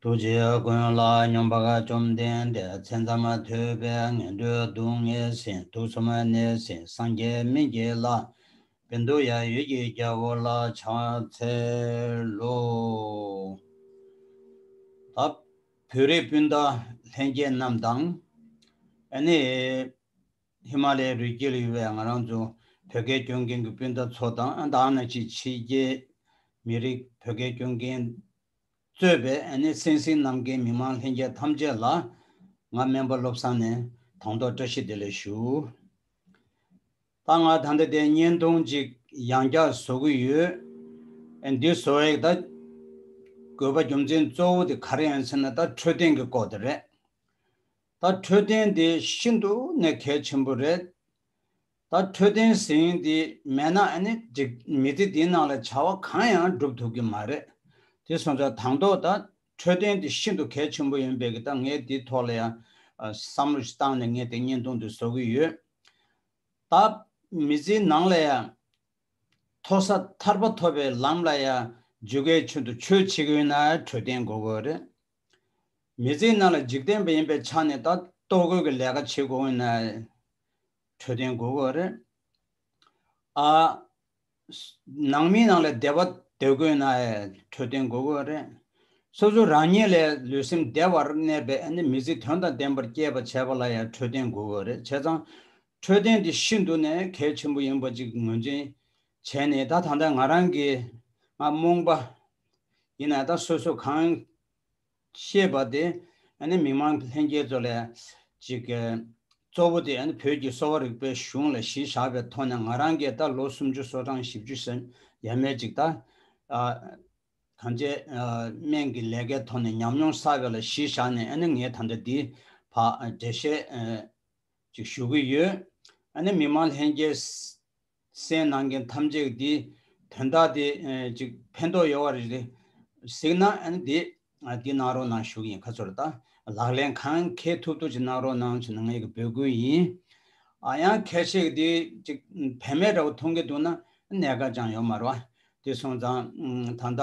ཐུགས་རྗེ་ཀུན་ལ་སྙོམས་པར་བཅོམ་ལྡན་འདས་མཚན་ཙམ་མ་ཐོས་པས་ངན་འགྲོའི་སྡུག་བསྔལ་ཟིན་ཐུགས་སུ་མ་གནས་ཟིན་སངས་རྒྱས་མི་འགྱེད་ལ། བན་དུ་ཡང་ཡོད་ཀྱི་རྒྱལ་པོ་ལ་ཕྱག་འཚལ་ལོ། ད་བོད་རིགས་སྤུན་ཟླ་ལྷན་རྒྱས་རྣམས་དང། ཨ་ནི་ཧི་མ་ལའི་རུས་སྐྱེས་ལ་ཡོད་པའི་ང་རང་ཚོ་བོད་སྐད་སྐྱོན་མཁན་གྱི་སྤུན་ཟླ་ཚོ་དང་ཨ་ད་ཨ་ན་ཅི་ཕྱི་རྒྱལ་མི་རིགས་བོད་སྐད་སྐྱོན་མཁན་གཙོས་པའི་ཨན་ནེ་སེན་སིའི་རྣམ་རྒྱལ་མི་མང་ལྷན་རྒྱས་ཐམས་ཅད་ལ། ང་སྨན་པ་བློ་བཟང་ནས་དང་ཐོག་བཀྲ་ཤིས་བདེ་ལེགས་ཞུ། ད་ང་ད་ལྟ་དེ་བརྙན་ཐུང་ཅིག་ཡང་བསྐྱར་བཟོ་གི་ཡོད། འདི་བཟོ་བའི་ད་དགོས་པ་རྒྱུ་མཚན་གཙོ་བོ་དེ་ག་རེ་ཡིན་ཟེར་ན་ད་འཕྲོད་བསྟེན་གྱི་སྐོར་དེ་རེད། ད་འཕྲོད་བསྟེན་དེ་ཤིན་ཏུ་ནས་གལ་ཆེན་པོ་རེད། ད་འཕྲོད་བསྟེན་ཟིན་དེ་མེད་ན་ཨ་ནི་འགྲིག་མི་དེ་དེའི་ནང་ལ་བྱ་བ་གང་ཡང་སྒྲུབ་ཐུབ་ཀྱི་མ་རེད། དེ་སོང་ཙང་དང་ཐོག་ད་འཕྲོད་བསྟེན་དེ་ཤིན་ཏུ་གལ་ཆེན་པོ་ཡིན་པས་ཀྱི་ད་ངས་དེའི་ཐོག་ལ་ཡང་བསམ་བློ་ཞིག་བཏང་ནས་ངས་དེ་བརྙན་ཐུང་དེ་བཟོ་གི་ཡོད། ད་མི་ཚེའི་ནང་ལ་ཡང་མཐོ་ས་ཐར་པ་ཐོབ་པའི་ལམ་ལ་ཡང་འཇུག་གལ་ཆེན་དུ་ཆོད་བྱེད་ཀྱི་ཡོད་ན་འཕྲོད་བསྟེན་དགོས་དགོས་རེད། མི་ཚེའི་ནང་ལ་འཇིག་རྟེན་པ་ཡིན་པའི་ཆ་ནས་ད་ལྟོ་གོས་ཀྱི་ལས་ཀ་བྱེད་དགོས་ཡོད་ན། འཕྲོད་བསྟེན་དགོས་དགོས་རེད། ཨ། ནང་མི་ནང་ལ་བདེ་བ་འདོད་དགོས་ན་ཨེ་འཕྲོད་བསྟེན་དགོས་དགོས་རེད། སོ་སོ་རང་ཉིད་ལས་ལུས་སེམས་བདེ་བར་གནས་པའི་ཨ་ནི་མི་ཚེ་དོན་དང་ལྡན་པར་སྐྱེལ་བར་བྱས་པ་ལ་ཡང་འཕྲོད་བསྟེན་དགོས་དགོས་རེད་བྱས་ཙང། འཕྲོད་བསྟེན་དེ་ཤིན་ཏུ་ནས་གལ་ཆེན་པོ་ཡིན་པ་ཅིག་ངོས་འཛིན་བྱས་ནས་ད་ད་ལྟ་ང་རང་གིས་ང་རྨོངས་པ་ཡིན་ན་ད་སོ་སོ་གང་ཤེས་པ་དེ་མི་མང་ལྷན་རྒྱས་ཚོ་ལས་གཅིག་གཙོ་བོ་དེ་བོད་ཀྱི་གསོ་བ་རིག་པའི་གཞུང་ལ་གཞི་བཞག་པའི་ཐོག་ནས་ང་རང་གིས་ད་ལོ་སུམ་ཅུ་སོ་གྲངས་བཞི་བཅུ་ཞེ་ཡས་མས་ཅིག་ད་གང་བྱས་སྨན་གྱི་ལས་ཀའི་ཐོག་ནས་ཉམས་མྱོང་བསགས་ཡོད་ལ་གཞི་བཞག་ནས་ངས་ད་ལྟ་འདིའི་བར་འགྲེལ་བཤད་ཅིག་ཞུ་གི་ཡོད། མི་མང་ལྷན་རྒྱས་སའི་ནང་གི་ཐམས་ཅད་ཀྱི་དེའི་དོན་དག་དེ་ཅིག་ཕན་འདོགས་ཡོད་བ་རེ་རེ་གཟིགས་ན་དེ་དེ་གནང་རོགས་གནང་ཞུ་གི་ཡིན་ཁ་ཚོར་ལྟ་ལག་ལེན་གང་འཁེལ་ཐུབ་ཐུབ་ཅིག་གནང་རོགས་གནང་ཆེ་ནང་ངེད་ཀྱི་འབོད་སྐུལ་ཡིན། ཡང་ཁེར་ཆེ་གི་དེ་ཅིག་བེད་མེད་འདྲ་བོ་མཐོང་གི་འདུག་ན་གནད་འགག་ཅང་ཡོད་མ་རེད་བ། དེ་སོང་ཙང་ད་ལྟ་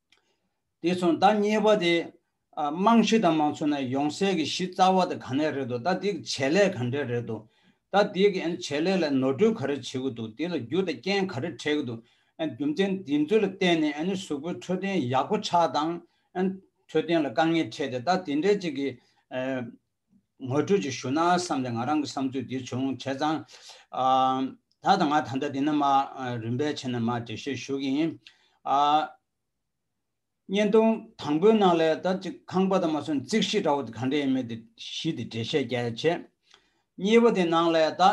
དེ་མཚུངས་ཟླ་གཉིས་པ་དེ། རྨང་གཞི་དང་མ་མཚོན་ན་ཡོང་སའི་གི་གཞི་རྩ་བ་དེ་ག་ནས་རེད་འདུག་ད་དེ་གི་བྱེད་ལས་ག་འདྲས་རེད་འདུག་ད་དེ་གི་བྱེད་ལས་ལ་ནོར་འཁྲུལ་ག་རེ་བྱེད་གི་འདུག་དེ་ལ་རྒྱུ་དང་རྐྱེན་ག་རེ་འཕྲད་གི་འདུག་རྒྱུ་མཚན་དེ་ཚོ་ལ་བརྟེན་ནས་གཟུགས་པོའི་འཕྲོད་བསྟེན་ཡག་པོ་ཆགས་དང། འཕྲོད་བསྟེན་ལ་དཀའ་ངལ་འཕྲད་དེ་ད་དེ་འདྲས་ཅིག་གི། ངོ་སྤྲོད་ཅིག་ཞུ་ན་བསམ་སྟེ་ང་རང་གི་བསམ་ཚུལ་འདི་བྱུང་བྱས་ཙང། ད་ད་ང་ད་ལྟ་འདི་ན་མ་རིན་པས་ཕྱི་ན་མ་འབྲི་ཞེས་ཞུ་གི་ཡིན། བརྙན་ཐུང་དང་པོའི་ནང་ལས་ད་ཅིག་ཁང་པ་དང་མ་སོན་རྩིག་གཞི་འདྲ་བོ་དེ་གང་འདྲ་ཡིན་མིན་དེ་གཞི་དེ་འགྲེལ་བཤད་རྒྱ་ཆེ། གཉིས་པ་དེ་ནང་ལས་ད་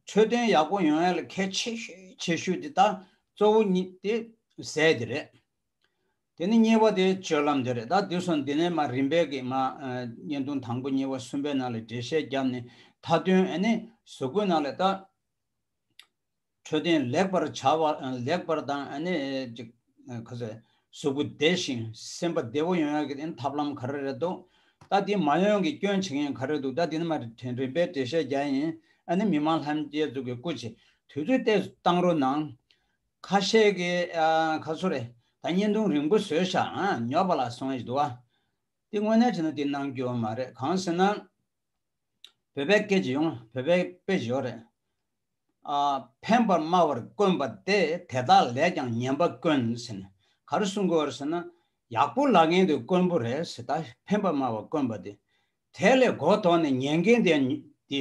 འཕྲོད་བསྟེན་ཡག་པོ་ཡོང་ཡ་ལ་གལ་ཆེ་ཤོས་ཆེ་ཤོས་དེ་ད་གཙོ་བོ་གཉིས་དེ་ཟས་དེ་རེད། དེ་ནི་གཉེར་བ་དེའི་སྤྱོད་ལམ་དེ་རེད་ད་དུས་སང་འདི་ནས་མ་རིན་པས་ཀྱི་མ། བརྙན་ཐུང་དང་པོ་གཉིས་པ་གསུམ་པའི་ནང་ལས་འགྲེལ་བཤད་བརྒྱབ་ནས་མཐའ་དོན་ཨ་ནི་ཟུར་བཀོད་ནང་ལས་ད། འཕྲོད་བསྟེན་ལེགས་པར་བྱ་བ་ལེགས་པར་དང་ཨ་ནི། ག་ཟེ། གཟུགས་པོ་བདེ་ཞིང་སེམས་པ་བདེ་བོ་ཡོང་ཡག་གི་ཨིན་ཐབས་ལམ་ག་རེ་རེད་འདུག་ད་དེ་མ་ཡོང་གི་སྐྱོན་བྱེད་མཁན་ག་རེ་འདུག་ད་དེ་ནི་མ་རིན་པས་འགྲེལ་བཤད་བརྒྱ་ཡིན་ཨ་ནི་མི་མང་ལྷན་རྒྱས་ཚུགས་ཀྱི་སྐུ་ཆེ་དུས་ཚོད་བལྟས་བཏང་རོགས་གནང། ཁ་ཤས་ཀྱིས་ཁ་ཚུར་རེད་ད་བརྙན་ཐུང་རིང་པོ་བཟོས་ཤག་ཉོག་པ་ལ་སོང་ཨེ་འདུག་ཨ། འདི་དངོས་གནས་བྱས་ན་འདི་གནང་རྒྱུ་མ་རེད་གང་ཟེར་ན། བོད་པའི་སྐད་ཇི་ཡོང་བོད་པའི་དཔེ་ཇི་ཡོང་རེད། ཨ། ཕན་པར་སྨྲ་བར་དཀོན་པ་སྟེ་དེ་དག་ལས་ཀྱང་ཉན་པ་དཀོན་ཟེར་ནས་ག་རེ་གསུང་དགོས་ཟེར་ན། ཡག་པོ་ལབ་མཁན་དེ་དཀོན་པོ་རེད་ཟེར་ད་ཕན་པར་སྨྲ་བར་དཀོན་པ་དེ་དེ་ལས་གོ་དོག་ནས་ཉན་མཁན་དེ་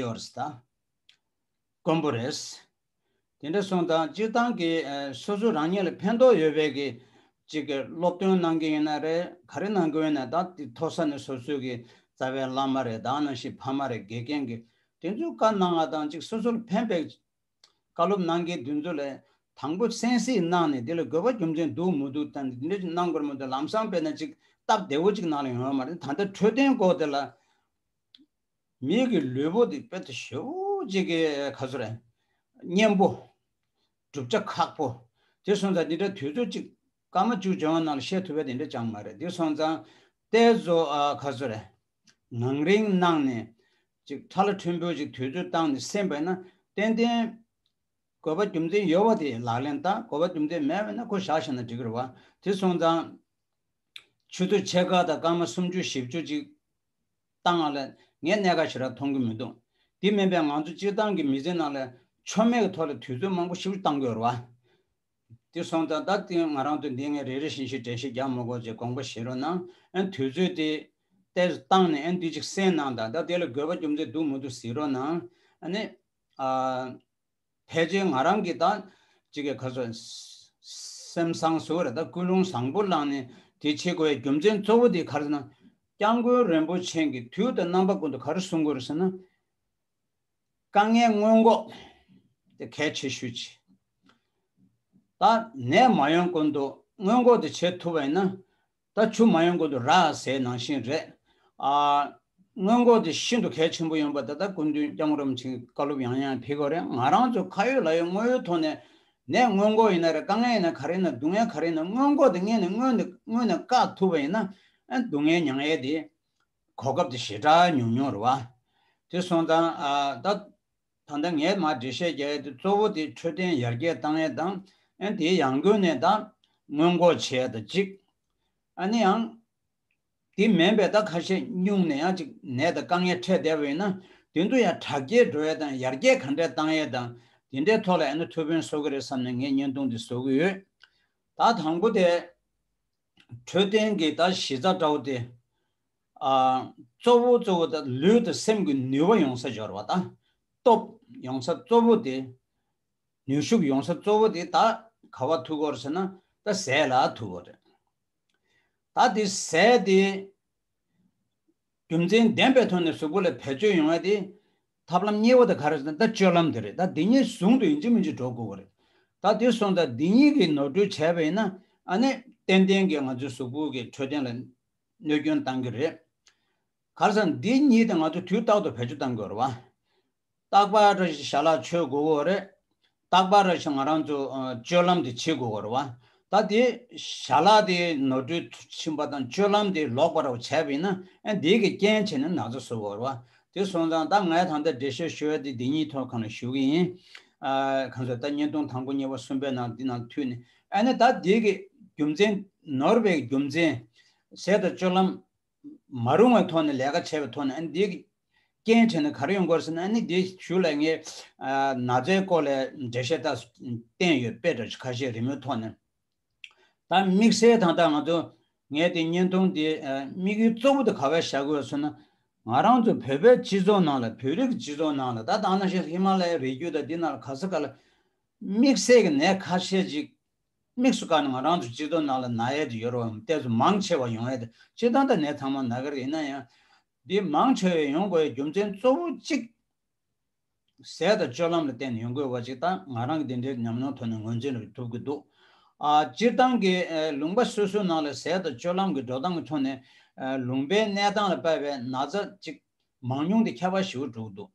ཡོད་རེད་ད་དཀོན་པོ་རེད། དེ་འདྲ་སོང་དང་སྤྱིར་བཏང་གི་སོ་སོ་རང་ཉིད་ལ་ཕན་ཐོགས་ཡོད་བས་ཀྱི་ཅིག་གི་སློབ་སྟོན་གནང་གི་ཡིན་ན་རེད་ག་རེ་གནང་གི་ཡོད་ན་དང་དེ་ཐོག་ས་ནས་སོ་སོའི་གི་རྩ་བའི་བླ་མ་རེད་དང་ནང་བཞིན་ཕ་མ་རེད་དགེ་རྒན་གི་དེ་ཚོའི་བཀའ་གནང་བ་དང་ཅིག་སོ་སོ་ལ་ཕན་པའི་བཀའ་སློབ་གནང་གི་དེ་ཚོ་ལ་དང་པོ་གསན་གཟིགས་གནང་ནས་དེ་ལ་དགོས་པ་རྒྱུ་མཚན་འདུག་མི་འདུག་དང་དེ་འདྲ་ཅིག་གནང་དགོས་མི་འདུག་ལམ་སང་དཔེར་ན་ཅིག་སྟབས་བདེ་བོ་ཅིག་གནང་ལ་ཡོང་བ་མ་རེད་ད་ལྟ་འཕྲོད་བསྟེན་སྐོར་དེ་ལ་མིག་གི་ལུས་པོ་འདི་དཔེ་དུ་ཞེ་བོ་གཅིག་གི་ཁ་ཟུར་ཨེ། གཉེན་པོ། བསྒྲུབ་བྱ་ཁག་པོ། དེ་སོང་ཙང་འདི་འདྲ་དུས་ཚོད་གཅིག་སྐར་མ་བཅུ་འབྱོར་བ་ནང་ལ་བཤད་ཐུབ་པའི་དེ་འདྲ་ཅང་མ་རེད་འདི་སོང་ཙང་ལྟའི་བཟོ་ཁ་ཟུར་ཨེ། ངང་རིང་གནང་ནས་ཅིག་ཁྲ་ལ་ཁྲོན་པོས་ཅིག་དུས་ཚོད་བཏང་ནས་སེམས་པས་ན་ཏན་ཏན། དགོས་པ་རྒྱུ་མཚན་ཡོད་བ་དེ་ལག་ལེན་བསྟར་དགོས་པ་རྒྱུ་མཚན་མེད་བས་ན་ཁོ་བཞག་བཞག་ན་འགྲིག་རེད་བ་དེ་སོང་ཙང། ཆུ་ཚོད་ཕྱེད་ཀ་དང་སྐར་མ་སུམ་ཅུ་བཞི་བཅུ་ཅིག། བཏང་ང་ལ་ངའི་གནད་ཁ་ཞེ་དྲག་མཐོང་གི་མི་འདུག་འདི་སྨན་པས་ང་ཚོ་སྤྱིར་བཏང་གི་མི་ཚེ་ནང་ལ་མཆོར་མེད་ཀྱི་ཐོག་ལ་དུས་ཚོད་མང་པོ་ཞིབ་བཏང་དགོས་རོ། དེ་སོང་ཙང་ད་ལྟ་ང་རང་དུ་འདི་ངས་རེ་རེ་བཞིན་ཞིག་དྲན་ཤེས་རྒྱག་མི་དགོས་ཅེས་དགོངས་པ་བཞེས་རོགས་གནང་ཨན་དུས་ཚོད་དེ་དེར་བཏང་ནས་ཨན་དུས་ཅིག་གསན་གནང་དང་ད་དེ་ལ་དགོས་པ་རྒྱུ་མཚན་འདུག་མི་འདུག་གཟིགས་རོགས་གནང་ཨ་ནི། ཕལ་ཆེར་ང་རང་གིས་དང། ཅི་གི་ག་ཚོད། སེམས་བཟང་བཟོ་གི་རེད་ད་ཀུན་སློང་བཟང་པོ་བླངས་ནས་དེ་ཆེད་དགོས་ཡ་རྒྱུ་མཚན་གཙོ་བོ་དེ་ག་རེད་ན། སྐྱབས་མགོན་རིན་པོ་ཆེན་གྱི་དུས་དང་རྣམ་པ་ཀུན་ཏུ་ག་རེ་གསུང་དགོས་རེད་ཟེར་ན། དཀའ་ངལ་སྔོན་འགོག་དེ་གལ་ཆེ་ཤོས་ཆེ། ད་ནད་མ་ཡོང་ཀུན་ཏུ་སྔོན་འགོག་དེ་བྱེད་ཐུབ་པ་ཡིན་ན། ད་ཆུ་མ་ཡོང་གོང་དུ་ར་ཟའི་ནང་བཞིན་རེད། སྔོན་འགོག་དེ་ཤིན་ཏུ་གལ་ཆེན་པོ་ཡོང་པ་ད་ལྟ་སྐུ་མདུན་སྐྱབས་རོམ་ཕྱིན་བཀའ་སློབ་ཡང་ཡང་ཕེབས་གི་རེད་ང་རང་ཚོ་ཁ་ཡོད་ལག་ཡོད་དངོས་ཡོད་ཐོག་ནས་ནད་སྔོན་འགོག་ཡིན་ན་རེད་དཀའ་ངལ་ཡིན་ན་ག་རེ་ཡིན་ན་སྡུག་བསྔལ་ག་རེ་ཡིན་ན་སྔོན་འགོག་དེ་དངོས་ནས་དངོས་ནས་དངོས་ནས་བཀག་ཐུབ་པ་ཡིན་ན་སྡུག་བསྔལ་མྱང་ཡས་དེ་གོ་སྐབས་དེ་ཞེ་དྲག་མྱོང་མྱོང་རེད་བ། དེ་སོང་ཙང་ད་ད་ལྟ་ངས་མར་འགྲེལ་བཤད་བརྒྱབ་ཡ་དེ་གཙོ་བོ་དེ་འཕྲོད་བསྟེན་ཡར་རྒྱས་བཏང་ཡ་དང་ཨན་དེའི་ཡང་སྒོས་ནས་ད་སྔོན་འགོག་བྱེད་ཡ་དང་གཅིག། ཨ་ནི་ཡང། དེ་མིན་པའི་ད་ཁ་ཤས་སྙུང་ནས་ཡང་གཅིག་ནད་དང་དཀའ་ངལ་འཕྲད་བསྡད་པ་ཡིན་ན་དེ་ཚོ་ཡང་དྲག་སྐྱེད་འགྲོ་ཡ་དང་ཡར་རྒྱས་ག་འདྲས་བཏང་ཡ་དང་དེ་འདྲའི་ཐོག་ལ་ཨན་ཐུགས་ཕན་གསོ་གི་རེད་བསམ་ནས་ངས་བརྙན་ཐུང་དེ་བཟོ་གི་ཡོད། ད་དང་པོ་དེ། འཕྲོད་བསྟེན་གྱི་ད་གཞི་རྩ་བཀྲ་བོ་སྟེ། གཙོ་བོ་གཙོ་བོ་དང་ལུས་དང་སེམས་ཀྱི་ནུས་བ་ཡོང་ས་སྦྱོར་བ་དང་སྟོབས་ཡོང་ས་གཙོ་བོ་དེ། ནུས་ཤུགས་ཡོང་ས་གཙོ་བོ་དེ་ད་ག་བ་ཐུག་གོ་ཟེར་ན་ད་ཟས་ལ་ཐུག་གོ་རེད། ད་དེ་ཟས་དེ། རྒྱུ་མཚན་ལྡན་པའི་ཐོག་ནས་གཟུགས་པོ་ལ་བེད་སྤྱོད་ཡོང་བ་དེ། ཐབས་ལམ་གཉིས་པོ་དེ་ག་རེ་ཟེར་ན་ད་སྤྱོད་ལམ་དེ་རེད་ད་འདི་གཉིས་ཟུང་དུ་ཡིན་གཅིག་མིན་གཅིག་འགྲོ་དགོས་པ་རེད། ད་དེ་སོང་ད་འདི་གཉིས་ཀྱིས་ནོར་འཁྲུལ་བྱས་པ་ཡིན་ན་ཨ་ནི་ཏན་ཏན་གྱིས་ང་ཚོའི་གཟུགས་པོ་གི་འཕྲོད་བསྟེན་ལ་གནོད་སྐྱོན་གཏང་གི་རེད། ག་རེ་ཟེར་ན་འདི་གཉིས་དེ་ང་ཚོ་དུས་རྟག་ཏུ་བེད་སྤྱོད་གཏང་དགོས་རེད་བ། རྟག་པར་བྱ་ལ་ཆོས་དགུ་བོར་རེ། རྟག་པར་བྱ་ང་རང་ཚོ་སྤྱོད་ལམ་དེ་བྱེད་དགུ་བོར་བ། ད་དེ་བྱ་ལ་དེ་ནོར་འཁྲུལ་ཕྱིན་པ་དང་སྤྱོད་ལམ་དེ་ལོག་པར་བྱས་པས་ན་འདི་གི་རྐྱེན་བྱས་ནས་ན་ཚ་བཟོ་བོར་བ། དེ་སོང་ཙང་ད་ངས་ད་ལྟ་འགྲེལ་བཤད་ཞུ་བ་དེ་འདི་གཉིས་ཐོག་གང་ལ་ཞུ་གི་ཡིན། གང་ཟེར་ད་བརྙན་ཐུང་དང་པོ་གཉིས་པ་གསུམ་པའི་ནང་འདི་ནང་འཐུས་ནས་ཨ་ནི་ད་འདི་གི་རྒྱུ་མཚན་ནོར་བའི་རྒྱུ་མཚན། ཟས་དང་སྤྱོད་ལམ་མ་རུང་བའི་ཐོག་ནས་ལས་ཀ་བྱས་པའི་ཐོག་ནས་ཨ་ནི་དེའི་རྐྱེན་བྱས་ནས་ག་རེ་ཡོང་དགོས་ཟེར་ན་ཨ་ནི་དེ་ཞུ་ལ་ངས་ན་ཚའི་སྐོར་ལས་འགྲེལ་བཤད་ལྟ་བསྟན་ཡོད་དཔེ་དྲ་ཁ་ཤས་རི་མོའི་ཐོག་ནས་ད་དམིགས་བསལ་དང་ད་ང་ཚོ་ངས་དེ་བརྙན་ཐུང་དེ་དམིགས་ཡུལ་གཙོ་བོ་དེ་ག་བས་བྱ་དགོས་ཟེར་ན་ང་རང་ཚོ་བོད་པའི་སྤྱི་ཚོགས་ནང་ལ་བོད་རིགས་སྤྱི་ཚོགས་ནང་ལ་ད་དང་ན་ཞེས་ཧི་མ་ལ་ཡའི་རི་རྒྱུད་དང་དེ་ནང་ལ་ག་ས་ག་ལ་དམིགས་བསལ་གྱི་ནས་ཁ་ཤས་ཅིག་དམིགས་སུ་བཀར་ན་ང་རང་ཚོ་སྤྱི་དོན་ནང་ལ་ན་ཡལ་དུ་ཡོད་རོགས་ཡོང་གཏད་སོ་མང་ཆེ་བ་ཡོང་ཡལ་དུ་སྤྱི་དོན་དང་ནད་ཚང་མ་ན་ག་རེ་ཡིན་ན་ཡང། འདི་མང་ཆེ་བས་ཡོང་དགོས་ཡའི་རྒྱུ་མཚན་གཙོ་བོ་གཅིག། ཟས་དང་སྤྱོད་ལམ་ལ་བརྟེན་ནས་ཡོང་དགོས་བ་ཅིག་དང་ང་རང་གི་དེ་འདྲའི་ཉམས་མྱོང་ཐོག་ནས་ངོས་འཛིན་ལ་ཐུབ་ཀྱི་འདུག་སྤྱིར་བཏང་གི་ལུང་པ་སོ་སོའི་ནང་ལ་ཟས་དང་སྤྱོད་ལམ་གྱི་འགྲོ་སྟངས་ཀྱི་ཐོག་ནས་ལུང་པའི་གནས་སྟངས་ལ་དཔལ་བའི་ན་ཚ་ཅིག་མང་ཉུང་དེ་ཁྱད་པར་ཞི་བོ་གྲུག་འདུག།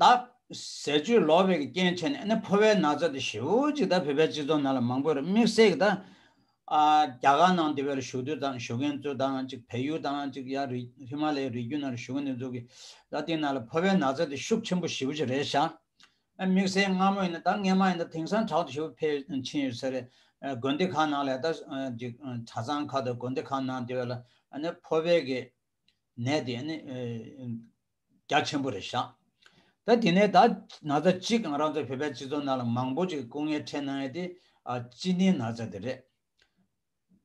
བདག། ཟས་སྤྱོད་ལོག་པའི་རྐྱེན་བྱས་ནས་ནི་ཕོ་བའི་ན་ཚ་དེ་བཞི་བོ་གཅིག་དང་བོད་པའི་སྤྱི་ཚོགས་ནང་ལ་མང་པོ་རུ་དམིགས་བསལ་གྱི་དང། རྒྱ་གར་ནང་དེ་བས་རུ་བཞུགས་དུས་དང་བཞུགས་མཁན་གཙོས་དང་གཅིག་བལ་ཡུལ་དང་གཅིག་ཡང་རི་ཧི་མ་ལའི་རི་རྒྱུད་ནང་རུ་བཞུགས་མཁན་དེ་ཚོ་གི་ལ་དེའི་ནང་ལ་ཕོ་བའི་ན་ཚ་དེ་ཤུགས་ཆེན་པོ་བཞི་བོ་ཅིག་རེད་བཞག་ཨ། དམིགས་བསལ་སྔ་མོ་ཡིན་ན་ད་སྔས་མ་ཡིན་ད་དེང་སང་དྲག་ཏུ་བཞི་བོ་འཕེལ་ཕྱིན་ཡོད་ས་རེད། དགོན་སྡེ་ཁག་ནང་ལས་ད་གཅིག་གྲྭ་ཚང་ཁག་དང་དགོན་སྡེ་ཁག་ནང་དེ་བས་ལ་ཨ་ནི་ཕོ་བའི་གི་ནད་དེ་ཨ་ནི། རྒྱ་ཆེན་པོ་རེ་བཞག་ད་དེ་ནས་ད་ན་ཚ་གཅིག་ང་རང་ཚོ་བོད་པའི་སྤྱི་ཚོགས་ནང་ལ་མང་པོ་གཅིག་སྐུ་ངལ་འཕྲད་གནང་ཡོད་དེ་སྤྱི་གནས་ན་ཚ་དེ་རེད་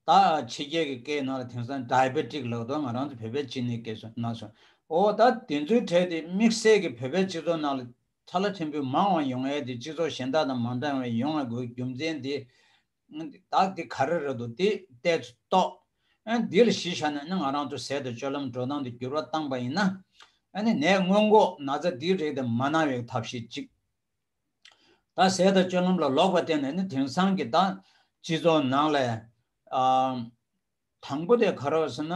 ད་ཕྱི་རྒྱལ་གྱི་སྐད་ནང་ལ་དེང་སང Diabetic ལགས་དོ་ང་རང་ཚོ་བོད་པའི་སྤྱི་གནས་སྐད་སོ་ན་སོ་ཨོ་ད་དེ་ཚོའི་གྲས་དེ་དམིགས་བསལ་གྱི་བོད་པའི་སྤྱི་ཚོགས་ནང་ལ་ཚ་ལ་ཕྲན་བུ་མང་བ་ཡོང་ཡོད་དེ་སྤྱི་ཚོགས་གཞན་དག་དང་མ་འདྲ་བའི་ཡོང་ང་དགོས་རྒྱུ་མཚན་དེ་བདག་འདི་ག་རེ་རེད་དོ་དེ་ལྟས་སུ་རྟོགས། འདི་ལ་གཞི་བཞག་ནས་ང་རང་ཚོ་ཟད་དུ་སྤྱོད་ལམ་འགྲོ་སྟངས་དེ་འགྱུར་བ་བཏང་པ་ཡིན་ན། ནད་སྔོན་འགོག་ན་ཚ་འདིའི་རིགས་དེ་མ་གནང་བའི་ཐབས་ཤེས་གཅིག། ད་ཟད་དུ་སྤྱོད་ལམ་ལ་ལོག་པ་བརྟེན་ནས་དེང་སང་གི་ད་སྤྱི་ཚོགས་ནང་ལ། དང་པོ་དེ་ག་རེ་བ་ཟེར་ན།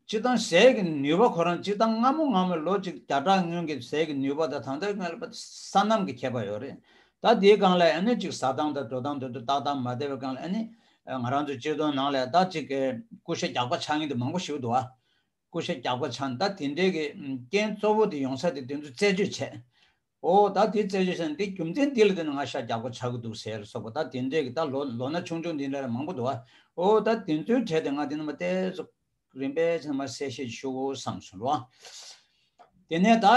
སྤྱི་བཏང་ཟས་ཀྱི་ནུས་པ་ཁོ་རང་སྤྱི་བཏང་སྔ་མོ་སྔ་མོ་ལོ་གཅིག་བརྒྱ་ཕྲག་སྔོན་གྱི་ཟས་ཀྱི་ནུས་པ་དང་ད་ལྟའི་སྔ་ས་གནམ་གྱི་ཁྱད་པར་ཡོད་རེད། ད་དེའི་སྒང་ལ་ཨེ་ནི་གཅིག་ཟ་སྟངས་དང་དྲོ་སྟངས་དོད་དུ་ཏག་ཏག་མ་བསྡད་པའི་སྒང་ལ་ཨེ་ནི། ང་རང་ཚོའི་སྤྱི་བཏང་ནང་ལ་ད་ཅིག་གི་ཀུ་ཤ་རྒྱག་པ་ཆགས་ངེས་དེ་མང་པོ་ཞིག་འདུག་ཨ། ཀུ་ཤ་རྒྱག་པ་ཆགས་ནས་ད་དེ་འདྲའི་གི་རྐྱེན་གཙོ་བོ་དེ་ཡོང་ས་དེ་དེ་ཚོ་རྩད་གཅོད་བྱས། ཨོ་ད་དེ་རྩད་གཅོད་བྱས་ན་དེ་རྒྱུ་མཚན་འདི་ལ་བརྟེན་ནས་ང་ཤ་རྒྱག་པོ་ཆགས་ཀྱི་འདུག་ཟེར་སོགས་པ་ད་དེ་འདྲས་ཀྱི་ད་ལོ་ལོ་ན་ཆུང་ཆུང་འདི་འདྲས་མང་པོ་འདུག་ཨོ་ད་དེ་ཚོའི་གྲས་དེ་ང་དེ་རྣམས་པ་ཏའི་ཚོ་རིམ་པས་ཚང་མ་གསལ་བཤད་ཞུ་བསམ་སོང་ལོ། དེ་ནས་ད་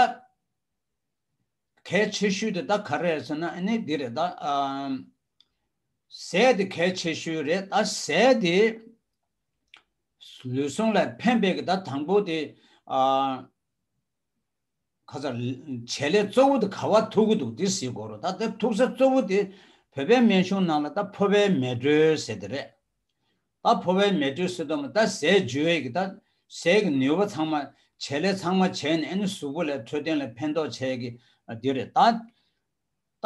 གལ་ཆེ་ཤོས་དེ་ད་ག་རེད་ཟེར་ན་ནི་འདི་རེད་ད། ཟས་དེ་གལ་ཆེ་ཤོས་རེད་ད་ཟས་དེ་ལུས་ཟུངས་ལ་ཕན་པའི་གི་ད་དང་པོ་དེ། ཁ་ཚར། བྱེད་ལས་གཙོ་བོ་དེ་ག་བ་ཐུག་གི་འདུག་དེ་ཟིག་གོ་རོ་ད་དེ་ཐུག་ས་གཙོ་བོ་དེ་བོད་པའི་སྨན་གཞུང་ནང་ལ་ད་ཕོ་བའི་མེ་དྲོད་ཟེར་དེ་རེད། ད་ཕོ་བའི་མེ་དྲོད་ཟེར་དོ་མ་ད་ཟས་འཇུ་བས་ཀྱི་ད་ཟས་ཀྱི་ནུས་པ་ཚང་མ་བྱེད་ལས་ཚང་མ་བྱས་ནས་ཨེ་ནི་གཟུགས་པོ་ལས་འཕྲོད་བསྟེན་ལས་ཕན་ཐོགས་བྱས་ཀྱི་དེ་རེད་ད།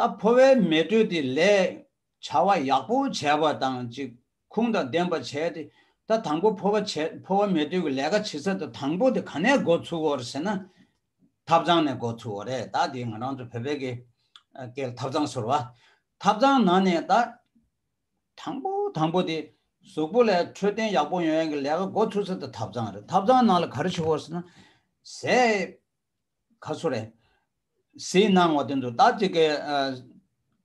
ད་ཕོ་བའི་མེ་དྲོད་དེ་ལས་བྱ་བ་ཡག་པོ་བྱས་པ་དང་གཅིག་ཁུངས་དང་ལྡན་པ་བྱས་ཏེ་ད་དང་པོ་ཕོ་བ་བྱས་ཕོ་བ་མེད་དུས་ཀྱི་ལས་ཀ་བྱེད་ཚད་དུ་དང་པོ་དེ་ག་ནས་མགོ་ཚུགས་འོར་ཟེར་ན། ཐབ་ཚང་ནས་མགོ་ཚུགས་འོ་རེད་ད་དེ་ང་རང་ཚོ་བོད་པའི་གི་ཀའི་ཐབ་ཚང་ཟུར་བ་ཐབ་ཚང་ནང་ནས་ད་དང་པོ་དང་པོ་དེ་གཟུགས་པོ་ལས་འཕྲོད་བསྟེན་ཡག་པོ་ཡོང་ཡང་གི་ལས་ཀ་མགོ་ཚུགས་ཚད་དུ་ཐབ་ཚང་རེད་ཐབ་ཚང་ནང་ལ་ག་རེ་བྱུགས་འོར་ཟེར་ན། ཟས་ག་ཚོ་རེད། ཟས་གནང་བ་དེ་ཚོ་ད་དེ་གའི།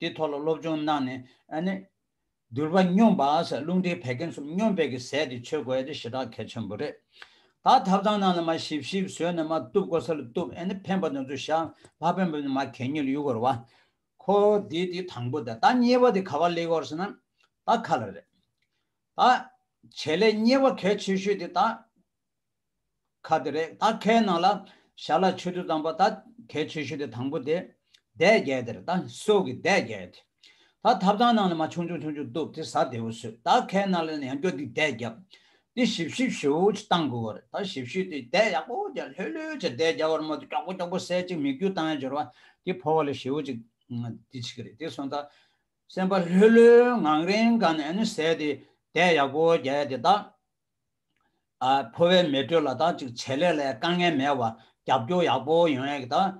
དེའི་ཐོག་ལ་སློབ་སྦྱོང་གནང་ནས་ནི། འདུལ་བ་སྙོམས་པ་སེ་རླུང་ལྡན་བད་ཀན་གསུམ་སྙོམས་པས་ཀྱི་ཟས་དེ་ཆོས་དགོས་ཡ་དེ་ཞེ་དྲག་གལ་ཆེན་པོ་རེད། ད་ཐབ་ཚང་ནང་ལ་མ་ཞིབ་ཞིབ་བཟོས་ནས་མ་གཏུབ་གོ་ས་ལ་གཏུབ་ཨ་ནི་ཕན་པ་དང་ཚུལ་བཞག་ལྷག་ཕན་པ་ནི་མ་གལ་ཉེ་ལ་ཡུལ་གོར་བ། ཁོ་དེ་དེ་དང་པོ་ད་ད་ཉེ་བ་དེ་ག་བ་ལས་གོར་ས་ན་ད་ག་ལ་རེད། ད་བྱེད་ལས་ཉེ་བ་གལ་ཆེ་ཤོས་དེ་ད་ཁ་དེ་རེད་ད་ཁའི་ནང་ལ་ཞར་ལ་ཆོས་དུས་དང་པོ་ད་ཁའི་ཆོས་ཞུ་དེ་དང་པོ་དེ་དད་རྒྱལ་དེར་ད་སྲོག་གི་དད་རྒྱལ་དེ་ད་ཐབ་ཐང་ནང་ལ་མ་ཆུང་ཆུང་ཆུང་ཆུང་གཏུབ་དེ་ཟ་དེ་བུ་སུ་ད་ཁའི་ནང་ལ་ནས་ཡང་སྐྱོ་སྡིག་དད་རྒྱབ་དེ་ཞིབ་ཞིབ་ཞུའོ་ཅི་གཏང་དགོས་བ་རེད་ད་ཞིབ་ཞུས་དེ་དད་ཡག་པོ་རྒྱ་ལྷོད་ལྷོད་ཅིག་དད་རྒྱ་བར་མ་དེ་སྐྱོག་པོ་སྐྱོག་པོ་སད་ཅིག་མིག་རྒྱུ་དང་ཡང་སྦྱོར་བ་དེ་ཕོ་བ་ལ་ཞུའོ་ཅིག་དེ་ཅིག་རེད་དེ་སོང་ད་སེམས་པ་ལྷོད་ལྷོད་ངང་རེང་ག་ནས་ནས་སད་དེ་དད་ཡག་པོ་རྒྱ་དེ་ད་ཕོ་བའི་མེ་དྲོད་ལ་དང་བྱེད་ལས་ལ་དཀའ་ངལ་མེད་པར་རྒྱབ་སྐྱོར་ཡག་པོ་ཡོང་ཡག་དང།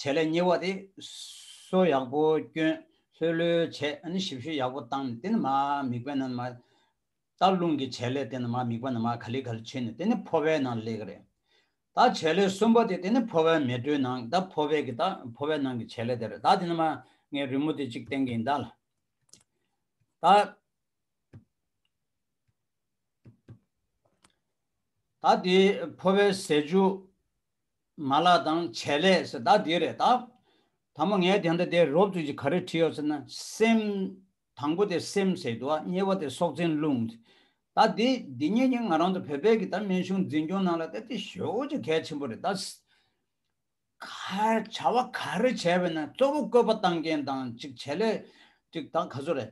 བྱེད་ལས་གཉིས་པ་དེ་གསོ་ཡག་པོ་སྐྱོན་ལྷོད་ལྷོད་བྱས་ཞིབ་བཤེར་ཡག་པོ་བཏང་ནས་དེ་ནི་མ་དམིགས་པའི་ནང་མ་རྟགས་རླུང་གི་བྱེད་ལས་དེ་ནི་མ་དམིགས་པ་ནང་མ་ག་ལི་ག་ལི་བྱས་ནས་དེ་ནི་ཕོ་བའི་ནང་ལས་ཀ་རེད། ད་བྱེད་ལས་གསུམ་པ་དེ་དེ་ནི་ཕོ་བའི་མེ་དྲོད་ནང་ད་ཕོ་བའི་གི་ད་ཕོ་བའི་ནང་གི་བྱེད་ལས་དེ་རེད་ད་དེ་ནི་མ་ངའི་རི་མོ་དེ་གཅིག་བསྟན་གི་ཡིན་ད་ལ། ད། ད་དེ་འཕོ་བའི་ཟས་བཅུ། མ་ལགས་དང་བྱད་ལས་སེ་ད་དེ་རེད་ད། ད་མོ་ངས་དེ་འདྲ་དེ་རོབ་བཙུགས་ཀྱི་ག་རེ་བྲིས་ཡོད་ཟེར་ན་སེམས། དང་པོ་དེ་སེམས་ཟེར་དུ་ཨ་གཉིས་པ་དེ་སྲོག་འཛིན་རླུང། ད་དེ་འདི་གཉིས་ཀྱིས་ང་རང་དང་བོད་པའི་གི་ད་སྨན་གཞུང་འཛིན་སྐྱོང་ནང་ལ་ད་དེ་ཞོ་ཅི་གལ་ཆེན་པོ་རེད་ད། ག། བྱ་བ་ག་རེ་བྱས་པས་ན་གཙོ་བོ་བཀོད་པ་བཏང་མཁན་དང་ཅིག་བྱས་ལས་ཅིག་ད་ག་ཚོད་རེད།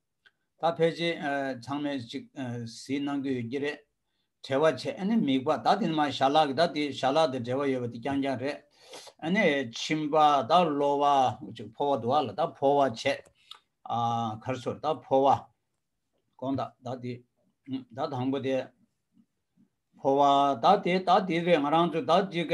ད་ཕལ་ཆེར་ཚང་མས་ཅིག་གཟིགས་གནང་གི་ཡོད་ཀྱི་རེད། བྲེལ་བ་ཆེ་ཨ་ནི་མིག་པ་ད་དེ་ནི་མ་ཞྭ་ལག་གི་ད་དེ་ཞྭ་ལག་དེ་བྲེལ་བ་ཡོད་པ་དེ་རྐྱང་རྐྱང་རེད། ཨ་ནི་ཁྱིམ་པ་ད་གློ་བ་ཅིག་ཕོ་བ་འདུག་ཨ་ལ་ད་ཕོ་བ་ཆེ། གར་སོར་ད་ཕོ་བ། གོང་ད་ད་དེ། ད་དང་པོ་དེ། ཕོ་བ་ད་དེ་ད་དེ་རེད་ང་རང་ཚོ་ད་ཅིག།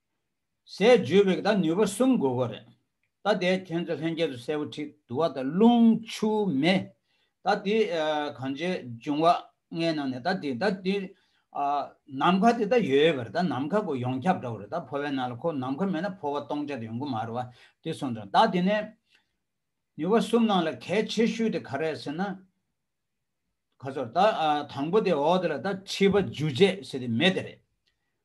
ཟས་བརྗོད་པའི་ད་ནུས་པ་གསུམ་དགོས་གོ་རེད། ད་དེ་ཁྱོད་ཚོ་ལྷན་སྐྱེས་སུ་གསལ་བོ་ཁྲིད་དུ་བ་ད་རླུང་ཆུ་མེ། ད་དེ་གང་ཅིའི་འབྱུང་བ་ལྔའི་ནང་ནས་ད་དེ་ད་དེ། ནམ་མཁའ་དེ་ད་ཡོད་པར་ད་ནམ་མཁའ་གོ་ཡོངས་ཁྱབ་འདྲ་བོ་རེད་ད་འཕོ་བའི་ནང་ལ་ཁོ་ནམ་མཁའ་མེད་ན་འཕོ་བ་སྟོང་ཆ་དེ་ཡོང་གི་མ་རེད་བ་དེ་སོང་ཙང་ད་དེ་ནས། ནུས་པ་གསུམ་ནང་ལ་གལ་ཆེ་ཤོས་དེ་ག་རེད་ཟེར་ན། ཁ་སོར་ད་དང་པོ་དེ་འོག་དེ་ལ་ད་མཁྲིས་པ་འཇུ་བྱེད་ཟེར་དེ་མེ་དེ་རེད།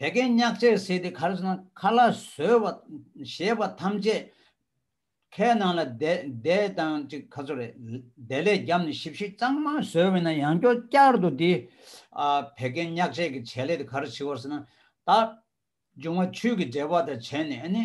དེ་ཀའི་སྙག་ཆས་བསྲེས་ཏེ་ཁར་ཟ་ན་ཁ་ལ་ཟོས་བ་ཞེས་པ་ཐམས་ཅད་ཁའི་ནང་ལ་བསྡད་དང་གཅིག་ཁ་ཚུར་བསྡད་ལས་རྒྱབ་ནས་ཞིབ་ཞིབ་གཙང་མ་ཟོས་བས་ན་ཡང་སྐྱོ་བསྐྱར་དུ་དེ་བད་ཀན་སྙག་ཆས་ཀྱི་བྱད་ལས་དེ་ཁར་བྱི་བར་ཟ་ན། ད་འབྱུང་བ་ཆུས་ཀྱི་འབྲེལ་པ་དང་བྱས་ནས་ནི།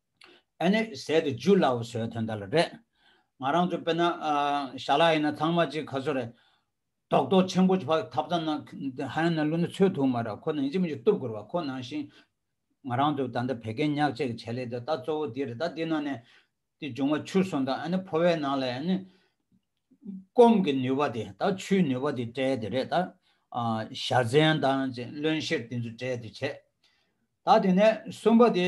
ཨེ་ནས་ཟད་དུ་འཇུ་སླ་བོ་བཟོའི་དོན་དག་ལ་རེད། ང་རང་ཚོ་དཔེར་ན་ཞྭ་ལ་ཡིན་ན་ཚང་མ་ཅིག་ག་ཚོད་རེད། རྡོག་རྡོག་ཆེན་པོ་ཕག་ཐབ་ཙམ་ན་ཧ་ཡང་ན་བླུད་ན་ཚོད་ཐུག་མ་ར་ཁོ་ནང་ཅིག་མ་ཅིག་གཏུབ་དགོས་ར་ཁོ་ནང་བཞིན། ང་རང་ཚོ་ད་ལྟ་བད་ཀན་ཉག་ཅིག་གི་བྱེད་ལས་དེ་ད་གཙོ་བོ་འདི་རེད་ད་འདི་ནང་ནས་དེ་འབྱུང་བ་ཆུ་སོང་དང་ཨེ་ནས་ཕོ་བའི་ནང་ལ་ཨེ་ནས། སྐོམ་གི་ནུས་པ་དེ་ད་ཆུའི་ནུས་པ་དེ་སྤྲད་དེ་རེད་ད། ཞྭ་ཟན་དང་ཅིག་བློན་ཤེར་དེ་ཚོ་སྤྲད་དེ་བྱེད། ད་དེ་ནས་གསུམ་པ་དེ་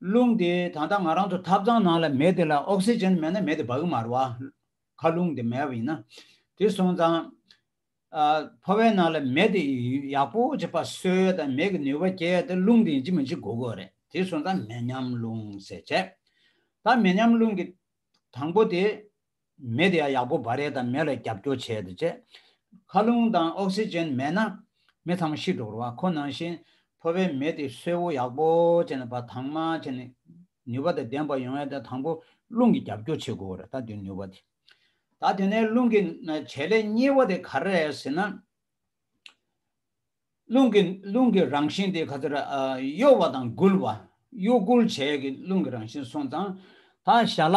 རླུང་དེ་ད་ལྟ་ང་རང་ཚོ་ཐབ་ཚང་ནང་ལ་མེད་དེ་ལ་ཨོག་སི་ཅན་མེད་ན་མེད་དེ་བག་མར་བ། ཁ་རླུང་དེ་མེད་པ་ཡིན་ན། དེ་སོང་ཙང། ཕོ་བའི་ནང་ལ་མེ་དེ་ཡག་པོ་བྱེད་པ་སོས་དང་མེ་གི་ནུས་པ་སྐྱེ་དེ་རླུང་དེ་ཡིན་གཅིག་མིན་གཅིག་དགོས་དགོས་རེད་དེ་སོང་ཙང་མེ་མཉམ་རླུང་ཟེར་བྱས། ད་མེ་མཉམ་རླུང་གི་དང་པོ་དེ། མེ་དེ་ཡང་ཡག་པོ་འབར་རེས་དང་མེ་ལ་རྒྱབ་སྐྱོར་བྱེད་དུ་ཆེ། མཁའ་རླུང་དང་ཨོག་སི་ཅན་མེད་ན་མི་ཚང་མ་ཤི་འགྲོ་རུང་ཁོ་ནང་བཞིན་ཕོ་བའི་མེ་དེ་སོས་བོ་ཡག་པོ་བྱེད་ན་བ་དྭངས་མ་བྱེད་ནས་ནུས་པ་དང་ལྡན་པ་ཡོང་ཡོད་ད་དང་པོ་རླུང་གི་རྒྱབ་སྐྱོར་བྱེད་དགོས་རེད་ད་དེ་ནུས་པ་དེ་ད་དེ་ནས་རླུང་གི་བྱེད་ལས་གཉིས་བ་དེ་ག་རེད་ཟེར་ན། རླུང་གི་རླུང་གི་རང་བཞིན་དེ་ག་ཚོད་རེད་གཡོ་བ་དང་སྒུལ་བ་གཡོ་སྒུལ་བྱེད་ཀྱི་རླུང་གི་རང་བཞིན་སོང་ཙང་ད་ཞྭ་ལ་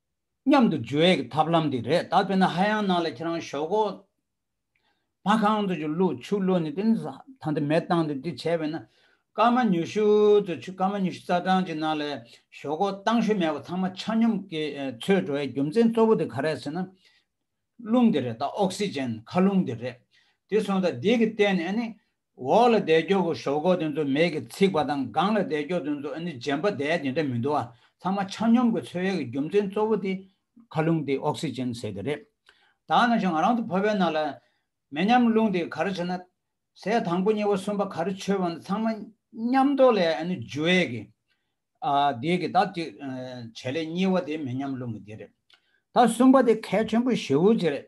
མཉམ་དུ་འཇུ་བའི་ཐབས་ལམ་དེ་རེད་ད་དཔེར་ན་ཧ་ཡང་ནང་ལ་ཁྱེད་རང་ཞོག་གོ། མ་གང་དུ་ཆུ་བླུགས་ཆུ་བླུགས་ནས་དེ་ཐང་དེ་མེ་བཏང་སྟེ་དེ་བྱས་པས་ན། སྐར་མ་ཉུ་ཤུ་དུ་ཆུ་སྐར་མ་ཉུ་ཤུ་རྩ་གྲངས་ཀྱི་ནང་ལ་ཞོག་གོ་བཏང་ཤུལ་མེད་པ་ཚང་མ་ཆ་སྙོམས་ཀྱི་ཚུལ་འགྲོ་བའི་རྒྱུ་མཚན་གཙོ་བོ་དེ་ག་རེད་ཟེར་ན། རླུང་དེ་རེད་ད་ཨོག་སི་ཅན་ཁ་རླུང་དེ་རེད། དེ་སོང་ད་དེ་གི་སྟེང་ནས་ནི་འོག་ལ་བཟླས་སྐྱོག་གི་ཞོག་ཁོག་དེ་ཚོ་མེས་ཀྱིས་ཚིག་པ་དང་སྒང་ལ་བཟླས་སྐྱོག་དེ་ཚོ་ཨ་ནི་རྗེན་པ་བཟླས་དེ་འདྲ་མི་འདུག་ཨ། ཚང་མ་ཆ་སྙོམས་ཀྱི་འཚོལ་ཡག་གི་རྒྱུ་མཚན་གཙོ་བོ་དེ། ཁ་རླུང་དེ་ཨོག་སི་ཅན་ཟེར་དེ་རེད། ད་ནང་བཞིན་ང་རང་ཚོ་ཕོ་བའི་ནང་ལ། མེ་མཉམ་རླུང་དེ་ག་རེ་བྱེད་ན། ཟས་དང་པོ་གཉིས་པ་གསུམ་པ་ག་རེ་འཆོལ་བ་ནི་ཚང་མ་མཉམ་རྡོ་ལས་ཨ་ནི་འཇུ་ཨེ་གི། ཨ། དེ་གི་ད་གཅིག་བྱེད་ལས་གཉིས་བ་དེ་མེ་མཉམ་རླུང་གི་དེ་རེད། ད་གསུམ་པ་དེ་གལ་ཆེན་པོ་བཞི་བོ་དེ་རེད།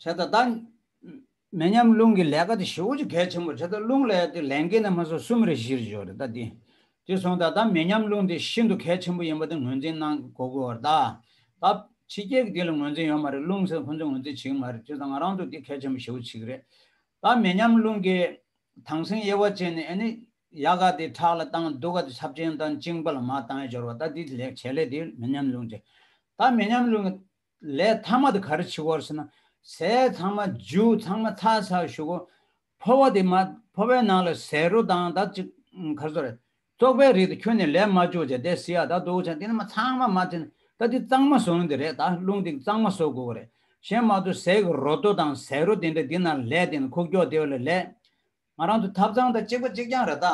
བྱས་ད་ལྟ། མེ་མཉམ་རླུང་གི་ལས་ཀ་དེ་བཞི་བོ་ཅི་གལ་ཆེན་པོ་བྱས་ད་ལྟ་རླུང་ལས་དེ་ལན་ཀའི་ནས་མ་སོགས་གསུམ་རེ་བཞིར་འཇོག་རེ་ད་དེ། དེ་སོང་ད་ལྟ་མེ་མཉམ་རླུང་དེ་ཤིན་ཏུ་གལ་ཆེན་པོ་ཡིན་པ་དེ་ངོས་འཛིན་གནང་གོ་དགོས་བར་ད། ད། ཕྱི་རྒྱལ་གྱི་དེ་ལ་ངོས་འཛིན་ཡོད་མ་རེད་རླུང་ཟེར་ཁོ་ཚོས་ངོས་འཛིན་བྱེད་ཀྱི་མ་རེད་བྱས་ད་ང་རང་ཚོ་དེ་གལ་ཆེན་པོ་བཞི་བོ་ཅིག་རེད། ད་མེ་མཉམ་རླུང་གི། དྭངས་སེང་དབྱེ་བ་བྱས་ནས་ཨེ་ནི། ཡ་ག་དེ་ཁྲག་ལ་བཏང་གདུག་ག་དེ་ཚབས་ཆེན་བཏང་བཅིངས་པ་ལ་མ་བཏང་ཡ་སྦྱོར་བ་ད་དེ་བྱས་ལས་དེ་མེ་མཉམ་རླུང་བྱས། ད་མེ་མཉམ་རླུང་གི། ལས་ཐ་མ་དེ་ག་རེ་བྱེད་དགོ་ཟེར་ན། ཟས་ཚང་མ་འཇུ་ཚང་མ་ཚ་ཚ་ཞུ་དགོ། ཕོ་བ་དེ་མ་ཕོ་བའི་ནང་ལ་ཟས་རོ་དང་ད་ཅིག་ག་རེ་ཟོ་རེད། ཙོག་པའི་རིགས་དེ་ཁྱོད་ནས་ལས་མ་འཇུ་བྱས་དེ་སི་ཡ་ད་འདུག་བྱས་དེ་ནས་མ་ཚང་མ་མ་ཚིན་ད་དེ་གཙང་མ་ཟོ་འདི་རེད་ད་རླུང་དེ་གཙང་མ་བཟོ་དགོ་གི་རེད་གཞན་མ་དུ་ཟས་ཀྱི་རོ་དོ་དང་ཟས་རོ་དེ་འདྲ་དེ་ནང་ལས་དེ་ནས་ཁུག་ཀྱོག་དེ་བ་ལ་ལས། ང་རང་དུ་ཐབ་ཚང་དང་གཅིག་པ་གཅིག་རྐྱང་རེ་ད།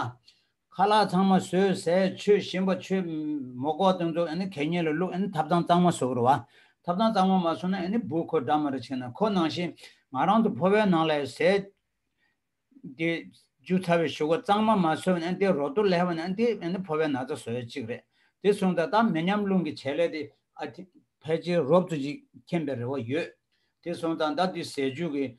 ཁ་ལག་ཚང་མ་ཟོས་ཟས་ཆོས་ཞིམ་པ་ཆོས། མོ་ཀོག་སྟོན་ཚོགས་གད་སྙིགས་ལ་བླུག་ཐབ་ཚང་གཙང་མ་བཟོ་དགོས་རེད་བ། ཐབ་ཚང་གཙང་མ་མ་བཟོ་ན་སྦུག་ཁོ་འདྲ་མ་རེ་བྱས་ན་ཁོ་ནང་བཞིན། ང་རང་དུ་ཕོ་བའི་ནང་ལ་ཟས། དེ། འཇུ་ཚ་བའི་བཞུགས་སྒོ་གཙང་མ་མ་བཟོས་ན་དེ་རོ་ཏོ་ལས་བ་ན་དེ་ཕོ་བའི་ན་ཚ་བཟོ་ཡ་གཅིག་རེད། དེ་སོང་ད་ད་མི་ཉམས་རླུང་གི་བྱེད་ལས་དེ། ཕལ་ཆེར་རོབ་ཙོ་གཅིག་མཁྱེན་པའི་རེ་བ་ཡོད། དེ་སོང་ད་ད་དེ་ཟས་བཅུད་ཀྱི།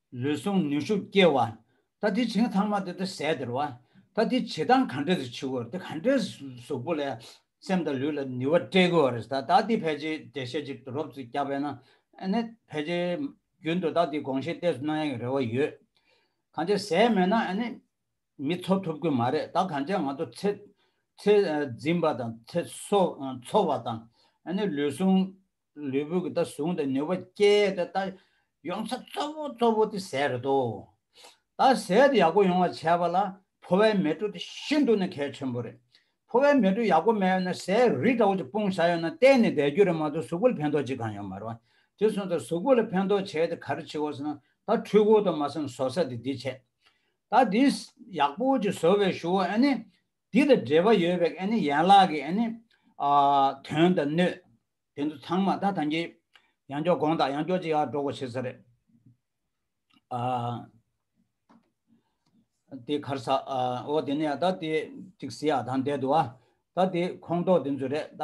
ལུས་ཟུངས་ནུས་ཤུགས་སྐྱེ་བ། ད་དེ་བྱིངས་ཐ་མ་དེ་དེ་ཟད་དེར་བ། ད་དེ་བྱེད་སྟངས་གང་འདྲས་སུ་བྱེད་དགོས། དེ་གང་འདྲས་སུ་གཟུགས་པོ་ལས་སེམས་དང་ལུས་ལ་ནུས་བ་སྤྲད་དགོས་བ་རེད་ད་ད་དེ་ཕལ་ཆེར་འགྲེལ་བཤད་ཅིག་ཏུ་རོབ་ཙིག་རྒྱག་པས་ན་ནི་ཕལ་ཆེར་རྒྱུན་དུ་ད་དེ་དགོངས་བཞེས་གཏད་སུ་གནང་ཡག་གི་རེ་བ་ཡོད། གང་ཅེ་ཟད་མེད་ན་ནི་མི་འཚོ་ཐུབ་ཀི་མ་རེད་ད་གང་ཅེ་ང་ཚོ་ཚེ་འཛིན་པ་དང་ཚེ་འཚོ་བ་དང་ནི་ལུས་ཟུངས་ལུས་པོའི་ད་བཟུང་དང་ནུས་པ་སྐྱེད་དེ་ད་ཡོང་ཚད་གཙོ་བོ་གཙོ་བོ་དེ་ཟས་རེད་དོ། ད་ཟས་དེ་ཡག་པོ་ཡོང་བ་བྱས་པ་ལ་ཕོ་བའི་མེ་དྲོད་དེ་ཤིན་ཏུ་ནས་གལ་ཆེན་པོ་རེད། ཕོ་བའི་མེ་དྲོད་ཡག་པོ་མེད་ན་ཟས་རིགས་འདྲ་བོ་ཅིག་སྤུངས་བཞག་ཡོད་ན་གཏན་ནས་བསྡད་རྒྱུ་རེད་མ་གཏོགས་གཟུགས་པོ་ལ་ཕན་ཐོགས་ཅི་གང་ཡོད་མ་རེད། དེ་སོང་ཙང་གཟུགས་པོ་ལ་ཕན་ཐོགས་བྱས་དེ་ག་རེ་བྱེད་དགོས་ཟེར་ན་ད་འཕྲུལ་འཁོར་དང་མ་ཟེར་ན་བཟོ་ས་དེ་འདི་བྱས། ད་འདི་ཡག་པོ་ཅིག་བཟོ་བའི་ཞུ་བ་ཨ་ནི་འདི་དང་འབྲེལ་བ་ཡོད་པའི་ཡན་ལག་གི་དོན་དང་སྣོད་དེ་ཚོ་ཚང་མ་ད་ཐང་གི་ཡང་འཇོག་དགོངས་དག་ཡང་འཇོག་ཅིག་སྒྲོག་གོ་བྱེད་ས་རེད། དེ་གར་ས་འོག་དེ་ནས་ད་དེ་ཏིག་སི་ཡ་དང་འདས་དུ་བ་ད་དེ་ཁོངས་གཏོགས་དེ་ཚོ་རེད་ད།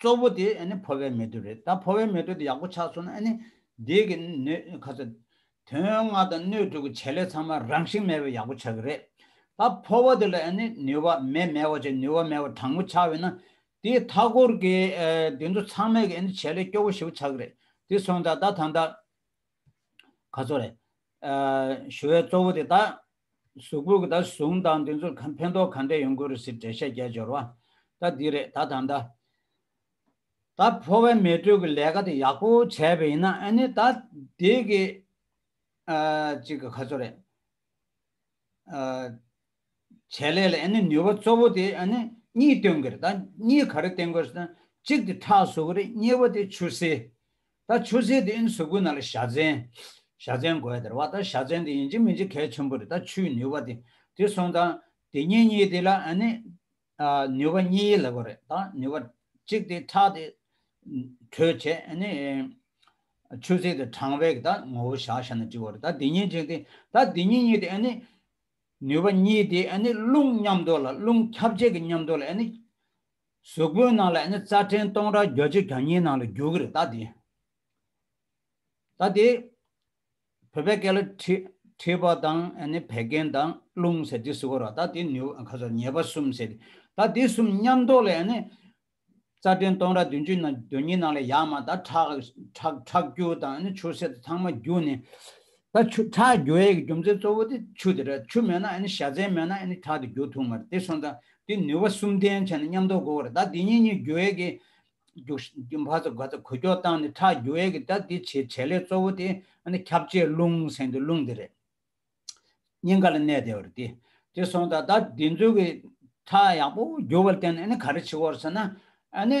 གཙོ་བོ་དེ་ཨ་ནི་ཕོ་བའི་མེ་དྲོད་རེད་ད་ཕོ་བའི་མེ་དྲོད་དེ་ཡག་པོ་ཆགས་སོང་ན་ཨ་ནི་འདིས་གི་ནུས་ག་ཚོད། དོན་ལྔ་དང་སྣོད་དྲུག་གི་བྱེད་ལས་ཚང་མ་རང་བཞིན་མེད་པའི་ཡག་པོ་ཆགས་ཀྱི་རེད། ད་ཕོ་བ་དེ་ལ་ཨ་ནི་ནུས་བ་མེད་མེད་བ་ཆགས་ནུས་བ་མེད་བ་དྲང་པོ་ཆགས་འོས་ན། དེའི་མཐའ་སྐོར་གྱི་དེ་ཚོ་ཚང་མས་གི་ཨ་ནི་བྱེད་ལས་སྐྱོ་བོ་ཞེ་བོ་ཆགས་ཀྱི་རེད། དེ་སོང་ད་ད་ད་ད། ག་ཚོད་རེད། ཞུ་བའི་གཙོ་བོ་དེ་ད་གཟུགས་པོ་ད་བཟུང་དང་དེ་ཚོར་གང་ཕན་ཐོག་གང་འབྲས་ཡོང་གི་རེད་ཟེར་འགྲེལ་བཤད་རྒྱ་སྦྱོར་བ་ད་འདི་རེད་ད་ད་ད། ད་ཕོ་བའི་མེ་དྲོད་ཀྱི་ལས་ཀ་དེ་ཡག་པོ་བྱས་པ་ཡིན་ན་ཨ་ནི་ད་དེ་གི་གཅིག་གི་ཁ་ཚོ་རེད། བྱས་ལས་ལ་ཨ་ནི་ནུས་པ་གཙོ་བོ་དེ་ཨ་ནི་གཉིས་སྟོན་གི་རེད་ད་གཉིས་ག་རེ་བསྟན་དགོས་ཟེར་ན་གཅིག་དེ་ཁྲག་བཟོ་གི་རེད་གཉིས་པ་དེ་ཆུ་སེར་ད་ཆུ་རྫས་དེ་ཡིན་ཟུག་གུ་ན་ལ་བཞའ་ཚན། བཞའ་ཚན་དགོས་དེར་བ་ད་བཞའ་ཚན་དེ་ཡིན་གྱི་མིན་གྱི་གལ་ཆེན་པོ་རེད་ད་ཆུའི་ནུས་བ་དེ་དེ་སོང་དང། དེ་གཉིས་གཉིས་དེ་ལ་ཨ་ནི། ནུས་བ་གཉིས་ཡིད་ལ་གོ་རེད་ད་ནུས་བ། གཅིག་དེ་ཁྲག་དེ། དྲོད་བྱས་ཨ་ནི། ཆུ་རྫས་དེ་གྲང་བས་གི་ད་ངོ་བོ་བཞའ་བཞའ་ན་འདྲི་བ་རེད་ད་དེ་གཉིས་གཅིག་དེ་ད་དེ་གཉིས་གཉིས་དེ་ཨ་ནི། ནུས་བ་གཉིས་དེ་ཨ་ནི་རླུང་མཉམ་འདོར་ལ་རླུང་ཁྱབ་བྱེད་ཀྱི་མཉམ་འདོར་ལ་ཨ་ནི། གཟུགས་པོའི་ནང་ལ་ནི་རྩ་ཕྲན་སྟོང་ཕྲག་བརྒྱ་བཅུ་གྱ་གཉིས་ནང་ལ་རྒྱུ་གི་རེད་ད་དེ། ད་དེ། བོད་པའི་སྐད་ལ་མཁྲིས་པ་དང་ནི་བད་ཀན་དང་རླུང་ཟེར་དེ་གཟུགས་རོ་ད་དེ་ཉེས་པ་གསུམ་ཟེར་དེ། ད་དེ་གསུམ་མཉམ་རྡོག་ལས་ནི། རྩ་ཕྲན་སྟོང་ཕྲག་བདུན་ཅུ་དོན་གཉིས་ནང་ལ་ཡ་མ་ད་ཁྲག་ཁྲག་ཁྲག་རྒྱུ་དང་ནི་ཆུ་སེར་ཚང་མ་རྒྱུ་ནི། ད་ཆུ་ཁྲག་རྒྱུ་བའི་རྒྱུ་མཚན་གཙོ་བོ་དེ་ཆུ་དེ་རེད་ཆུ་མེད་ན་ཨཱ་ནི་བྱ་རྫས་མེད་ན་ཨཱ་ནི་ཁྲག་དེ་རྒྱུ་ཐུབ་མ་རེད་དེ་སོང་ཙང་དེ་ནུས་པ་གསུམ་ལྡན་བྱས་ན་ཉམས་རྟོགས་འགོག་རེད་ད་དེ་གཉིས་གཉིས་རྒྱུ་བའི་གི་རྒྱུ་བྷ་ཙ་གྷ་ཙ་གོ་ཀྱོག་བཏང་ནས་ཁྲག་རྒྱུ་བའི་གི་ད་དེ་བྱེད་བྱེད་ལས་གཙོ་བོ་དེ་ཨཱ་ནི་ཁྱབ་བྱེད་རླུང་ཟེར་འདི་རླུང་དེ་རེད་སྙིང་ག་ལ་གནས་བདེ་བ་རེད་དེ་དེ་སོང་ཙང་ད་དེ་ཚོའི་གི་ཁྲག་ཡག་པོ་རྒྱུ་བ་བརྟེན་ནས་ཨཱ་ནི་ག་རེ་བྱེད་འོག་ཟེར་ན་ཨཱ་ནི་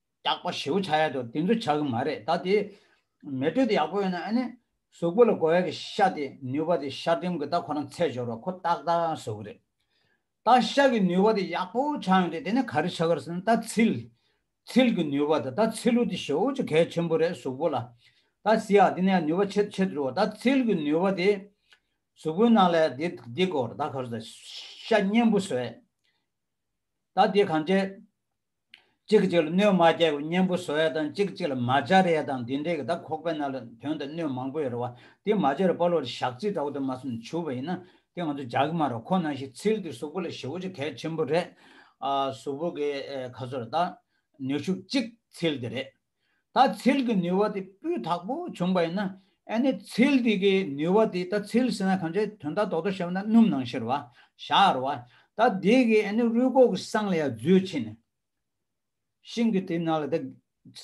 སྐྱག་པ་ཞེའུ་བྱ་ཡ་དོ་དེ་ཚོ་བྱ་གི་མ་རེད་ད་དེ་མེ་དྲོད་དེ་ཡག་པོ་ཡོད་ན་ཨ་ནི་གཟུགས་པོ་ལ་དགོས་ཡ་གི་ཤ་དེ་ནུས་པ་དེ་ཤ་འགྲིམ་གི་ད་ཁོ་རང་ཚད་སྦྱོར་བ་ཁོ་ཏག་ཏག་ཡང་བཟོ་གི་རེད་ད་ཤ་གི་ནུས་པ་དེ་ཡག་པོ་ཆག་ཡོང་དུས་དེ་ནས་ག་རེ་བྱ་གིར་སེམས་ད་ཚིལ་ཚིལ་གི་ནུས་པ་དེ་ད་ཚིལ་ལུ་དེ་ཞོ་ཅི་གལ་ཆེན་པོ་རེད་གཟུགས་པོ་ལ་ད་སི་ཡ་དེ་ནས་ཡང་ནུས་པ་ཆེད་ཆེད་འགྲོ་བ་ད་ཚིལ་གི་ནུས་པ་དེ་གཟུགས་པོའི་ནང་ལ་དེ་དེ་དགོས་རེད་ད་ག་རེ་བྱ་ཤ་སྙན་པོ་བཟོ་ཡ་ད་དེ་གང་བྱེད། གཅིག་གཅིག་ལ་གནོད་མ་བསྐྱལ་བའི་གཉེན་པོ་བཟོ་ཡ་དང་གཅིག་གཅིག་ལ་མ་སྦྱར་རེ་ཡ་དང་འདི་འདྲའི་གི་དྭགས་ཁོག་པའི་ནང་ལ་དོན་དུ་གནོད་མང་པོ་ཡོད་རེ་བ་དེ་མ་བྱས་ར་པ་ལོ་རེ་ཞག་རྩིས་འདྲ་བོ་དེ་མ་སོང་བྱུ་བ་ཡིན་ན་དེ་ང་ཚོ་རྒྱག་གི་མ་རེ་བ་ཁོ་ན་ཞིག་ཚིལ་དེ་གཟུགས་པོ་ལ་ཞི་བོ་ཆེ་གལ་ཆེན་པོ་རེད། གཟུགས་པོ་གི་ཁ་ཚོར་དང་ནུས་ཤུགས་གཅིག་ཚིལ་དེ་རེད། ད་ཚིལ་གྱི་ནུས་བ་དེ་སྤུས་དག་པོ་བྱུང་པ་ཡིན་ན་ཨེ་ནི་ཚིལ་དེ་གའི་ནུས་བ་དེ་ད་ཚིལ་ཟེར་ན་གང་ཅིའི་དོན་ད་དོག་ཏུ་བཤད་པ་ན་སྣུམ་ནང་ཤེར་བ་ཤར་བ་ད་དེ་གའི་ཨེ་ནི་རུས་ཁོག་གི་སྲང་ལ་ཡང་རྫུས་ཕྱིན་ནས་ཤིང་གི་དེ་ན་ལ་ད་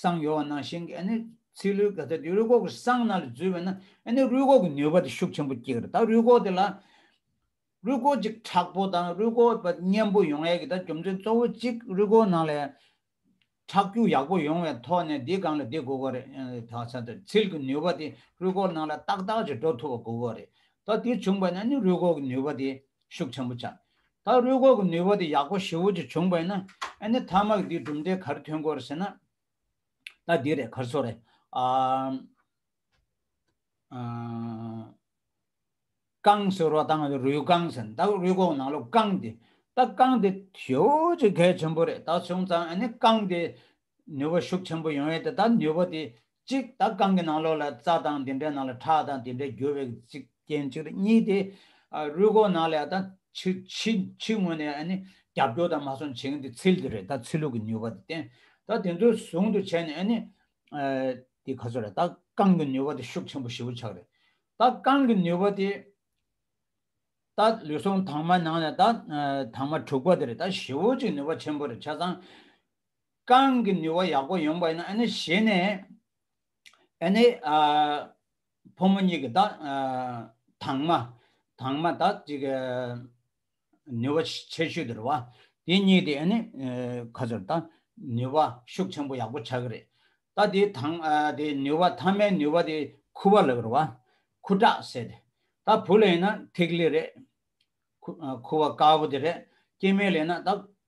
སྲང་ཡོད་བ་ན་ཤིང་གི་ཨེ་ནི་ཚིལ་ལུས་ག་ད་དེ་རུས་ཁོག་གི་སྲང་ན་ལ་རྫུས་བས་ན་ཨེ་ནི་རུས་ཁོག་གི་ནུས་བ་དེ་ཤུགས་ཆེན་པོ་སྐྱེས་ཀྱི་རེད་ད་རུས་ཁོག་དེ་ལ་རུས་ཁོག་ཅིག་དྲག་པོ་དང་རུས་ཁོག་པ་སྙན་པོ་ཡོང་ཡས་ཀྱི་ད་རྒྱུ་མཚན་གཙོ་བོ་གཅིག་རུས་ཁོག་ནང་ལ་ཡང་ཁྲག་རྒྱུན་ཡག་པོ་ཡོང་བའི་ཐོག་ནས་འདི་གང་ལ་འདི་དགོས་པ་རེད་ད་ཆ་དེར་ཚིལ་གྱི་ནུས་པ་དེ་རུས་སྐོགས་ནང་ལ་ཏག་ཏག་ཅིག་འགྲོ་ཐུབ་པ་དགོས་པ་རེད་ད་དེ་བྱུང་པས་ན་ནི་རུས་སྐོགས་ཀྱི་ནུས་པ་དེ་ཤུགས་ཆེན་པོ་ཆགས། ད་རུས་སྐོགས་ཀྱི་ནུས་པ་དེ་ཡག་པོ་ཞི་བོ་ཅིག་བྱུང་པས་ན་ཨ་ནི་ཐ་མག་འདིའི་གྲུབ་འབྲས་གར་ཐོན་དགོས་ཟེར་ན། ད་འདི་རེད་གར་སོ་རེད། རྐང་སོལ་རོ་དང་རུས་རྐང་ཟིན་ད་རུས་གོག་ནང་ལོ་རྐང་དེ་ད་རྐང་དེ་ཧྲིལ་བོ་ཆེ་གལ་ཆེན་པོ་རེད་ད་བྱུང་ཙང་ཨ་ནི་རྐང་དེ་ནུས་པ་ཤུགས་ཆེན་པོ་ཡོང་ཡས་དེ་ད་ནུས་པ་དེ་གཅིག་ད་རྐང་གི་ནང་ལོ་ལ་རྩ་དང་དེ་འདྲའི་ནང་ལ་ཁྲག་དང་དེ་འདྲའི་རྒྱུ་བས་གཅིག་རྐྱེན་གཅིག་རེད་གཉིས་དེ་རུས་གོག་ནང་ལ་ད་ཕྱི་ཕྱི་ཕྱི་ངོས་ནས་ཨ་ནི་རྒྱབ་སྐྱོར་དང་མ་སོང་བྱེད་མཁན་དེ་ཚིལ་དེ་རེད་ད་ཚིལ་ལུག་གི་ནུས་པ་དེ་བསྟེན་ད་དེ་ཚོའི་ཟུང་དུ་བྱས་ནས་ཨ་ནི་དེ་ག་ཚོད་རེད་ད་རྐང་གི་ནུས་པ་དེ་ཤུགས་ཆེན་པོ་ཧྲིལ་བོ་ཆགས་རེད་ད་རྐང་གི་ནུས་པ་དེ། ད་ལུས་ཟུངས་དྭངས་མ་ནང་ནས་ད་དྭངས་མ་འཁྲུགས་པ་དེ་རེད་ད་བཞི་བོ་གཅིག་ནུས་པ་ཆེན་པོ་རེད་ཆ་ཚང། རྐང་གི་ནུས་བ་ཡག་པོ་ཡོང་པ་ཡིན་ན་ཨ་ནི་བཞི་ནས། ཨ་ནི། ཕོ་མོ་གཉིས་ཀྱི་ད་དྭངས་མ་དྭངས་མ་ད་གཅིག། ནུས་པ་ཆེ་ཤོས་དེར་བ། དེ་གཉིས་དེ་ནི་ཁ་ཚོར་ད་ནུས་པ་ཤུགས་ཆེན་པོ་ཡག་པོ་ཆགས་ཀྱི་རེད། ད་དེ་དང་དེ་ནུས་པ་མཐའ་མའི་ནུས་པ་དེ་ཁུ་བ་ལ་ཀྱི་རེད་བ། ཁུ་ཁྲག་ཟེར་ཏེ། ད་བུ་ལ་ཡིན་ན་ཐིག་ལེ་རེད། ཁུ་བ་དཀར་པོ་དེ་རེད། སྐྱེ་དམན་ལ་ཡིན་ན་ད་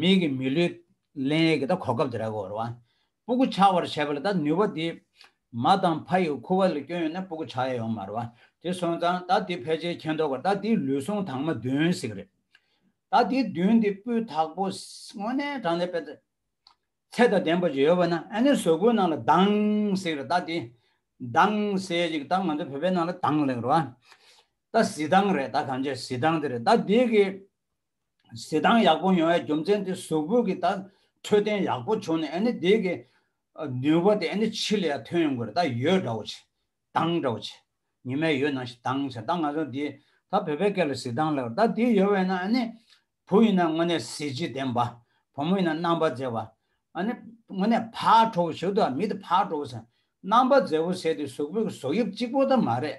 མིག་གི་མི་ལུས། ལན་ཡེ་གི་ད་གོ་སྐབས་དེ་ར་གོ་ར་བ། སྤུ་གུ་ཆགས་པར་བྱས་པ་ལ་ད་ནུས་བ་དེ། མ་དང་ཕ་ཡི་ཁུ་བ་ལ་སྐྱོན་ཡོད་ན་སྤུ་གུ་ཆགས་ཡ་ཡོང་མ་ར་བ། དེ་སོང་ཙང་ད་དེ་ཕལ་ཆེར་མཁྱེན་འདོག་ག་ད་དེའི་ལུས་ཟུངས་དྭངས་མ་བདུན་ཟིག་རེད། ད་དེའི་བདུན་དེ་སྤུའི་དག་པོ། དངོས་གནས་དྲང་ལེ་པད། ཚད་དང་ལྡན་པ་ཅིག་ཡོད་བ་ན་ཨ་ནི་ཟོལ་གོའི་ནང་ལ་དྭངས་ཟིག་རེད་ད་དེ། དྭངས་ཟེ་ཅིག་ད་ང་ཚོ་བོད་པའི་ནང་ལ་དྭངས་ལེགས་ར་བ། ད་བཟི་དྭངས་རེད་ད་གང་ཆ་བཟི་དྭངས་དེ་རེད་ད་དེ་གི། གཟི་མདངས་ཡག་པོ་ཡོང་བའི་རྒྱུ་མཚན་དེ་གཟུགས་པོ་གི་ད་འཕྲོད་བསྟེན་ཡག་པོ་བྱུང་ནས་ཨནི་དེ་གི་ནུས་པ་དེ་ཨནི་ཕྱི་ལ་ཡང་ཐོན་ཡོང་གི་རེད་ད་ཡོད་འདྲ་བོ་བྱེད་མདངས་འདྲ་བོ་བྱེད་ཉི་མའི་ཡོད་ནང་བཞིན་མདངས་བྱེད་ད་ང་ཚོ་འདི་ད་བོད་པའི་སྐད་ལ་གཟི་མདངས་ལབ་ད་དེ་ཡོད་བས་ན་ཨནི་བུ་ཡིན་ན་དངོས་གནས་གཟི་བརྗིད་ལྡན་པ་བུ་མོ་ཡིན་ན་རྣམ་པ་མཛེས་པ་ཨནི་དངོས་གནས་ཕག་གྲོགས་པོ་ཞིག་ཏུ་མི་དེ་ཕག་གྲོགས་པོ་ཟེར་རྣམ་པ་མཛེས་པོ་ཟེར་དེ་གཟུགས་པོ་གི་གཟུགས་དབྱིབས་གཅིག་པོ་ད་མ་རེད་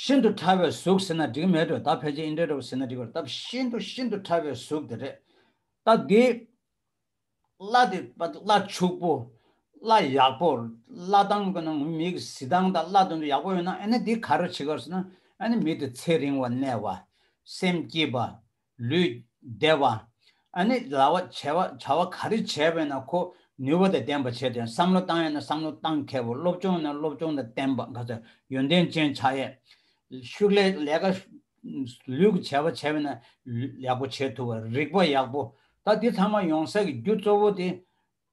ཤིན་ཏུ་ཕྲ་བའི་གཟུགས་ཟེར་ན་འགྲིག་མེད་དོ་ད་ཕལ་ཆེར་ཨིནྡྲའི་རོ་ཟེར་ན་འགྲིག་བར་སྟབས་ཤིན་ཏུ་ཤིན་ཏུ་ཕྲ་བའི་གཟུགས་དེ་རེད། ད་འདི། བརླ་དེ་བརླ་ཕྱུག་པོ། བརླ་ཡག་པོ། བརླ་སྟངས་གི་ནང་མིག་གི་གཟི་མདངས་དང་བརླ་དོན་དུ་ཡག་པོ་ཡོད་ན་ཨེ་ན་འདི་ག་རེ་བྱེད་དགོས་ཟེར་ན་ཨེ་ན་མི་དེ་ཚེ་རིང་བ་གནས་བ། སེམས་སྐྱིད་པ། ལུས། བདེ་བ། ཨ་ནི་ལ་བ་བྱ་བ་བྱ་བ་ག་རེ་བྱས་པས་ན་ཁོ་ནུས་པ་དང་ལྡན་པ་བྱས་ཏེ་བསམ་བློ་བཏང་ཡས་ན་བསམ་བློ་བཏང་མཁས་པ་སློབ་སྤྱོང་ཡས་ན་སློབ་སྤྱོང་དང་ལྡན་པ་འགའ་ཚ་ཡོན་ཏན་ཅན་བྱ་ཡས། ཤུགས་ལས་ལས་ཀ། ལུས་ཀྱི་བྱ་བ་བྱས་པས་ན་ལུས་ཡག་པོ་བྱས་ཐུབ་པ་རིག་པ་ཡག་པོ་ད་འདི་ཚང་མ་ཡོང་ས་ཀྱི་རྒྱུ་གཙོ་བོ་དེ།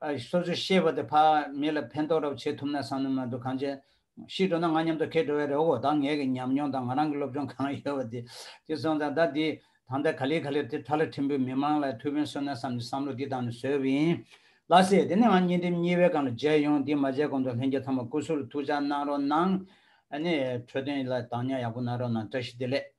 སོ་སོའི་ཤེས་པ་དེ་ཕ་མེས་ལ་ཕན་ཐོགས་རབས་བྱེད་ཐུབ་ན་བསམ་ནུས་མ་འདུག་གང་ཅི། ཤི་འགྲོ་ན་ང་མཉམ་དུ་ཁེལ་འགྲོ་བས་རེ་བའོ་ད་ངེད་ཀྱི་ཉམས་མྱོང་དང་ང་རང་གི་སློབ་སྦྱོང་གང་ཡོད་པ་དེ་དེ་སོང་ཙང་ད་འདི་ད་ལྟ་ག་ལེ་ག་ལེར་དེ་ཐ་ལ་ཁྲིམས་བུས་མི་དམངས་ལ་ཐུགས་ཕན་གསོས་ན་བསམ་ནས་བསམ་བློ་འདི་དང་ནི་བཟོས་པ་ཡིན། ལགས་སེ་དེ་ནས་ང་གཉིས་འགྲིམ་གཉིས་བའི་སྒང་ལ་མཇལ་ཡོང་འདི་མ་མཇལ་གོང་དུ་ལྷན་རྒྱས་ཚང་མ་སྐུ་གཟུགས་ལ་ཐུགས་ཅག་གནང་རོགས་གནང། ཨ་ནི་འཕྲོས་དོན་ལ་དྭངས་སྙགས་ཡག་པོ་གནང་རོགས་གནང་བཀྲ་ཤིས་བདེ་ལེགས།